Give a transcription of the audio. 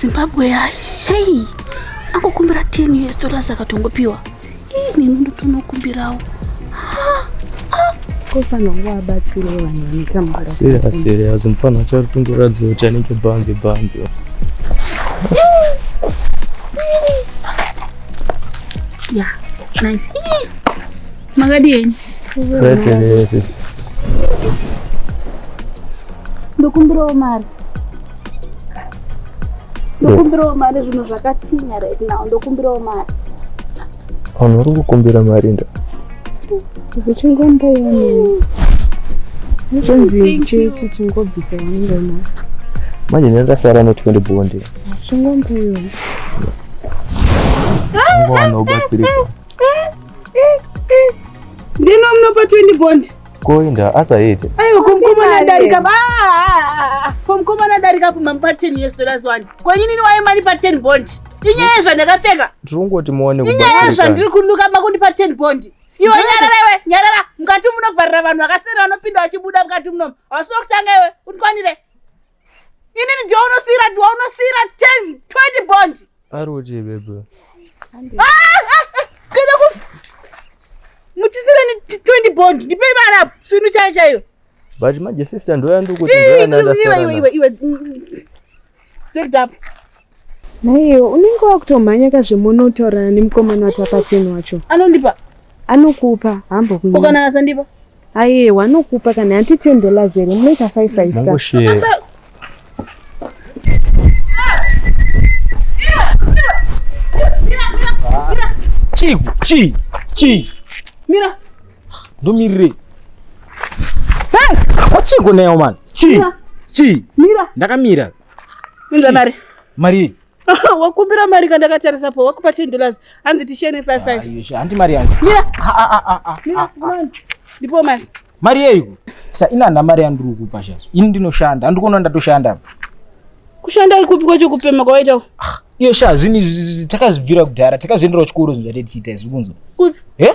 zimbabwe yayi hei angokumbira 10 years dollars akatongopiwa ini ndotonokumbirawo kofanira kunge wabatsirei vanhu vanotambura serious serious mufana achari kungoratidza kuti anenge bambi bambi ya nice Makadi yenyu. Kwete sisi. Ndokumbirawo mari. Ndokumbirawo mari zvinhu zvakatinya right now. Ndokumbirawo mari. Vanhu vari kukumbira mari nda. Zvichingomboyani. Zvinzi chechi chingobvisa ngoma. Manje ndasara no 20 bonde. Chingomboyani. Ngono batsirika. Ndino mnopa 20 bond. Koinda asaite. Ayo komkomana darika ba. Komkomana darika pa mampa 10 years dollars wani. Kwenye nini waye mari pa 10 bond. Inyaya zvandakapfeka. Tirongoti muone kubatika. Inyaya zvandiri kunuka makundi pa 10 bond. Iwe nyarara iwe nyarara mukati munovharira vanhu vakasera vanopinda vachibuda mukati munomu. Hausi wokutanga iwe unikwanire. inini ndiwa unosiyira ndiwa unosiyira 10 20 bond ari uchi bebe kana ah, ah, ah, ku muchisira ni 20 bond ndipei vana apo swinu chayo chaiyo but manje sister ndoya ndikuti ndoya ndandasara iwe iwe iwe take it up Nhaiwo unenge wakutomhanya ka zvemunotaurana nemukomana wati apateni wacho. Anondipa. Anokupa hambo kunyika. Ukana asandipa. Aye wanokupa kana hanti 10 dollars here munoita 5 5 ka. Mangoshe. Chi chi chi. Mira. Ndomirire. Hey, wachiko nayo man. Chi. Chi. Mira. Ndakamira. Inza mari. Mari. Wakumbira mari kana ndakatarisa po wakupa 10 dollars hanzi tishene 55. Ayo sha hanti mari yangu. Mira. Ah ah ah ah. ah Mira ah, kumana. Ah. Ndipo mari. Mari yeiko? Sa ina na mari yandiri kukupa sha. Ini ndinoshanda. Handikuona ndatoshanda apa. Kushanda ikupi kwacho kupema kwawaita uko? Ah, iyo sha zvini takazvibvira kudhara takazviendera kuchikoro zvinhu zvatetiita izvi kunzwa. Kupi? Eh?